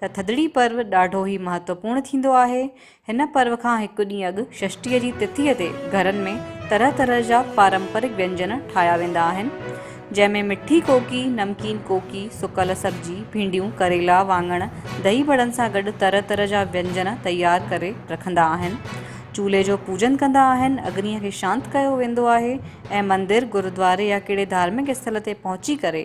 ته ٿڌڙي پرو ڏاڍو ئي مهتوپورڻ ٿيندو آهي. هن پرو کان هڪ ڏينهن اڳ ششٽيء جي تٿيء تي گهرن ۾ طرح طرح جا پارمپرڪ وينجن ٺاهيا ويندا آهن، جنهن ۾ مٺي ڪوڪي، نمڪين ڪوڪي، سڪل سبزي، ڀينڊيون، ڪريلا، وانڱڻ، دهي بڙن سان گڏ طرح طرح جا وينجن تيار ڪري رکندا آهن. چولهي جو پوڄن ڪندا آهن، اگنيء کي شانت ڪيو ويندو آهي ۽ مندر، گرودواري يا ڪهڙي ڌارمڪ اسٿل تي پهچي ڪري،